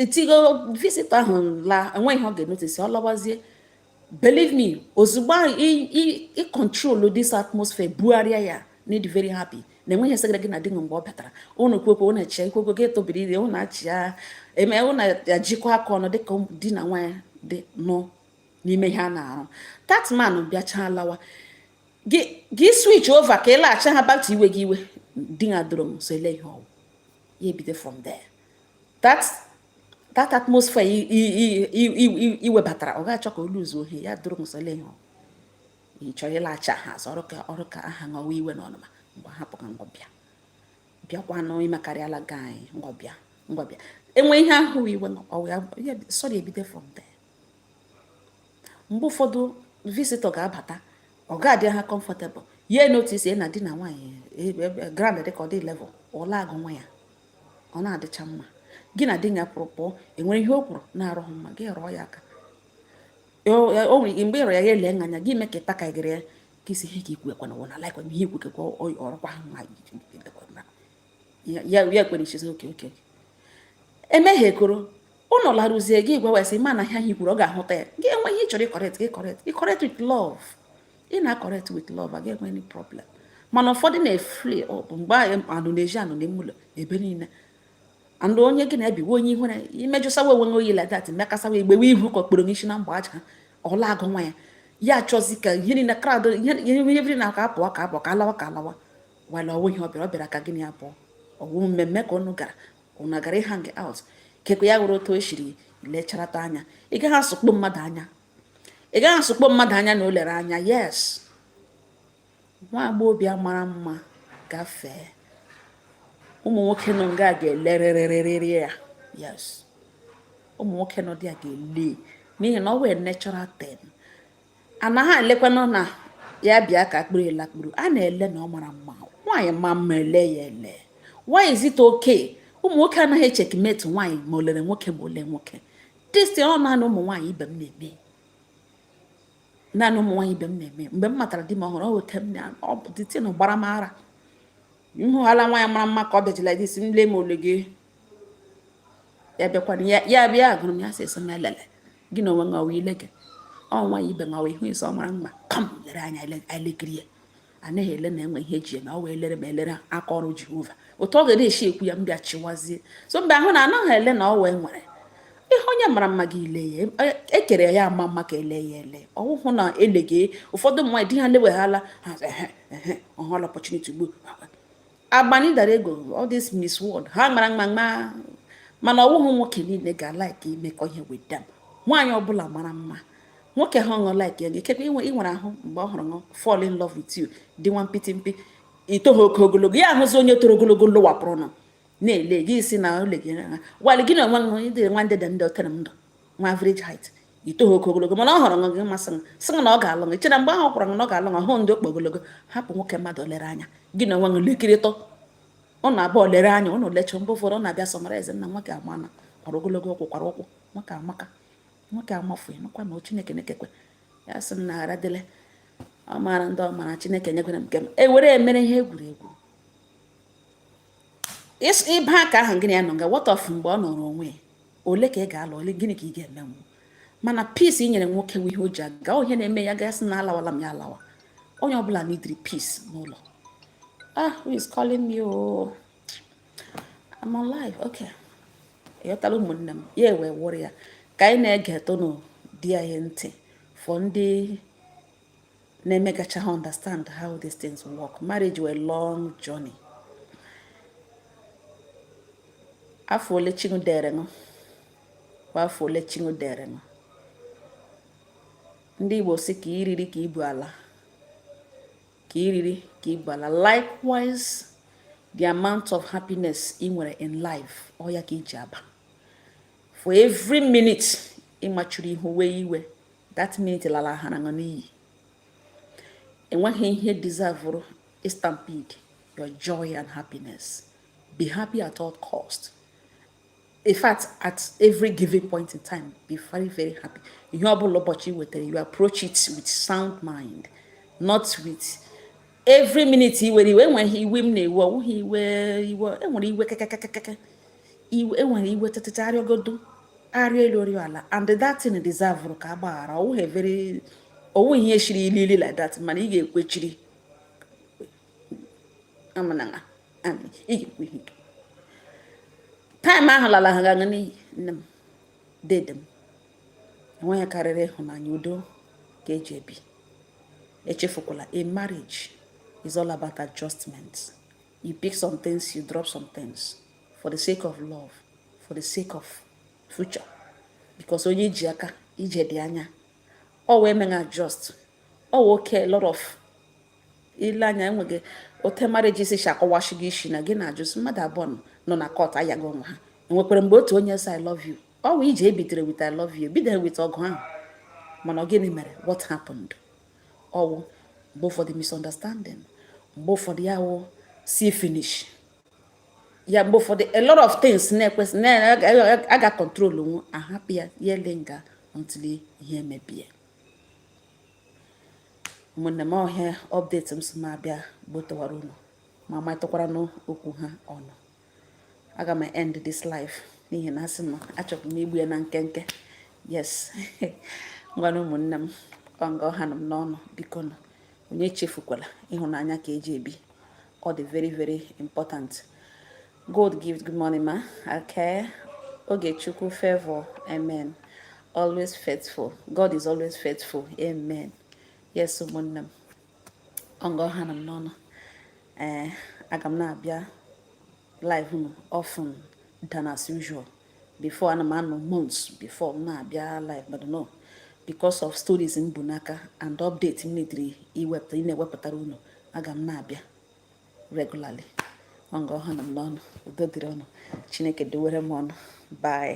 etigo visitor ahụ laa enweghị ihe ọ ga-enotice ọ lawazie believe me ozugbo ị control this atmosphere bugharịa ya na-adị very happy na enweghị ihe segara gị na di gị mgbe ọ batara ụnụ kwekwe ụnụ eche ikwekwe gị etobiri ire ụnụ achị ya eme ụnụ ejikọ aka ọnụ dịka di na nwaanyị dị nọ n'ime ihe a na-arụ that man bịachaa lawa gị switch over ka ị laghachi ha back to iwe gị iwe di ya doro m so ele ihe ọ wụ ya ebido from there that atmosphere i webatara ọ ga-achọ ka olu zuo ohi ya duru nsọle ihe ị chọrọ ịlaghachi ha azụ ọrụ ka ọrụ ka aha ṅọwa iwe na ọnụma mgbe hapụ ka onye ọbịa bịakwanụ imekarịala gị anyị onye ọbịa onye ọbịa enwe ihe ahụ iwe sọrọ ebido from there mgbe ụfọdụ visitor ga-abata ọ ga-adị uncomfortable ya notice na di na nwaanyị ground dị ka ọ dị level ọ laa agwa nwunye ya ọ na-adịcha mma gị na di gị kwụrụ pụọ enwere ihe o kwuru na-adịghị mma gị rụọ ya aka o nwere ike mgbe ịrụ ya ya ele anya gị mee ka ịta ka gịrị ya ka isi ihe ka ikwu ekwana wụ na laikwa ihe ikwu kekwa ọrụkwa ahụ ma ya ya kwere ichezi oke oke emehiekoro ụnụ laruzie gị gwawa sị mana ihe ahụ i kwuru ọ ga-ahụta ya gị enwee ihe ị chọrọ ịcorrect gị correct ịcorrect with love ị na-acorrect with love agaghị enwe any problem mana ụfọdụ na-efli ọ bụ mgbe ụnụ na-eji anọ n'ime ụlọ ebe niile andụ onye gị na-ebiwe onye ihu na imejụsawa onwe nwe oyi like that mekasawa egbewe ihu ka okporo n'isi na mgbe agụụ ụla agụwa ya ya achọzi ka ihe niile crowd ihe na aka apụọ ka apụọ ka alawa ka alawa wala ọ wụ ihe ọ bịara ọ bịara ka gị na ya pụọ ọ wụ mmemme ka ụnụ gara ụnụ gara ịhang out kekwe ya were otu o siri lecharata anya ị gaghị asụkpọ mmadụ anya ị gaghị asụkpọ mmadụ anya na o lere anya yes nwa agbọghọbịa mara mma gafee ụmụ nwoke nọ nga ga-elerịrịrịrị ya yes ụmụ nwoke nọ there ga-ele n'ihi na ọ wụ a natural thing anaghị elekwanụ na ya bịa ka a kpụrụ ya lakpuru a na-ele na ọ mara mma nwaanyị maa mma e lee ya ele why is it okay ụmụ nwoke anaghị echeckmate nwaanyị ma o lere nwoke ma o le nwoke this ọ naanị ụmụ nwaanyị ibe m na-eme naanị ụmụ nwaanyị ibe m na-eme mgbe m matara di m ọhụrụ ọ weta m na ọ bụ the thing gbara m ara m hụghala nwaanyị mara mma ka ọ bịajila dis m lee m o le gị ya bịakwana ya bịa agwara m ya sị sị m elele gị na onwe ngawa ile gị ọ nwaanyị ibe ngawa ị hụ ị sị ọ mara mma ka m lere anya elekiri ya anaghị ele na enwe ihe eji eme ọ wụ elere ma elere aka ọrụ jehova otu ọ ga na-esi ekwu ya m bịa chịwazie so mgbe ahụ na anaghị ele na o nwere ihe onye mara mma gị ele ya e kere ya ama mma ka e lee ya ele ọwụhụ na eleghe ụfọdụ mmadụ di ha leweghala ọ hụla opportunity ugbu agbani darego all these miss world ha mara mma mma mana ọwụghị nwoke niile ga-alike imekọ ihe with them nwaanyị ọbụla mara mma nwoke ha ọṅụ like ya ikekwe inwe ị nwere ahụ mgbe ọ hụrụ ṅụ fall in love with you dị nwa mpịtị mpị itoghị oke ogologo ya ahụzi onye toro ogologo lụwapụrụ nọ na-ele gị ị sị na o le gị while gị na onwe gị dịrị nwa ndị dị ndị otere m ndụ nwa average height itoghị oke ogologo mana ọ hụrụ ṅụ gị amasị ya sị na ọ ga-alụ gị ị chere mgbe ahụ o kwuru na ọ ga-alụ gị hụ ndị oke ogologo hapụ nwoke mmadụ lere anya gị na onwe gị lekiritụ ụnụ abụọ lere anya ụnụ lecha mgbe ụfọdụ ụnụ abịa summarize nna nwoke ama na kwara ogologo ụkwụ kwara ụkwụ nwoke amaka nwoke amafu makwa na chineke na-ekekwe ya sị m na ghara dịle ọ maara ndị ọ maara chineke nyekwere m nke m ewere emere ihe egwuregwu ịba aka ahụ gị na ya nọ nga what of mgbe ọ nọrọ onwe ole ka ị ga-alụ ole gịnị ka ị ga-emenwu mana peace i nyere nwoke wụ ihe o ji aga ihe na-eme ya gasị na alawala m ya alawa onye ọbụla needịrị peace n'ụlọ ah who is calling me oh I'm on live okay ịghọtala ụmụnne m ya ewee wụrụ ya ka anyị na-ege tụnụ di anyị ntị for ndị na-emegacha ha understand how these things work marriage wụ a long journey afọ ole chi unu dere unu kwa afọ ole chi unu dere unu ndị Igbo sị ka i riri ka i bu ala ka i riri ka i bu ala likewise the amount of happiness ị nwere in life ọ ya ka i ji aba for every minute ị machuru ihu wee iwe that minute lala ha na n'iyi o nweghị ihe deservuru stampede your joy and happiness be happy at all cost in fact at every given point in time be very very happy ihe ọ bụla ụbọchị wetara you approach it with sound mind not with every minute i were iwe enweghị iwe m na-ewe ọ wụghị iwe iwe e nwere iwe kakakakaka iwe e nwere iwe tụtụta a rịọgodu a rịọ elu a rịọ ala and that thing deservuru ka a gbaghara ọ wụghị very ọ wụ ihe shiri ili ili like that mana ị ga-ekwechiri amanaga ị ga-ekwe ihe time ahụ lala ha gaga n'iyi nne m dede m o nweghị ihe karịrị ịhụnanya udo ka e ji ebi echefukwala na marriage is all about adjustment you pick some things you drop some things for the sake of love for the sake of future because onye i ji aga ije dị anya ọ wee meghị adjust ọ wee oke lot of ile anya enweghị ote marriage isi si akọwachi gị isi na gị na-ajụzi mmadụ abụọ nọ na court ayaghị onwe ha e nwekwara mgbe otu onye sị I love you ọ wụ ije bidere with I love you bidere with ọgụ ahụ mana ọ gịnị mere what happened ọ wụ mgbe ụfọdụ misunderstanding mgbe ụfọdụ ya wụ see finish ya mgbe ụfọdụ a lot of things na-ekwesị na-aga control nwu a hapụ ya ya elinger until ihe emebie ụmụnne m ọ ihe a update m sị m abịa gbotowara unu ma matụkwara n'okwu ha ọnụ aga m end this live n'ihi na asị m achọbụ m igbu ya na nkenke yes ngwanụ ụmụnne m ọ nga ọ ha nọ m n'ọnụ biko nụ onye echefukwala ịhụnanya ka e ji ebi ọ dị very very important god gives good morning ma okay Ogechukwu favor amen always faithful god is always faithful amen yes ụmụnne m ọ nga ọ ha nụ m n'ọnụ ee eh, aga m na-abịa live you know often than as usual before ana m anọ months before m na-abịa live but no because of stories m bu n'aka and update m needịrị ị na-ewepụtara unu aga m na-abịa regularly ọ nga ọ ha nụ m n'ọnụ udo dịrị unu chineke dowere m unu bye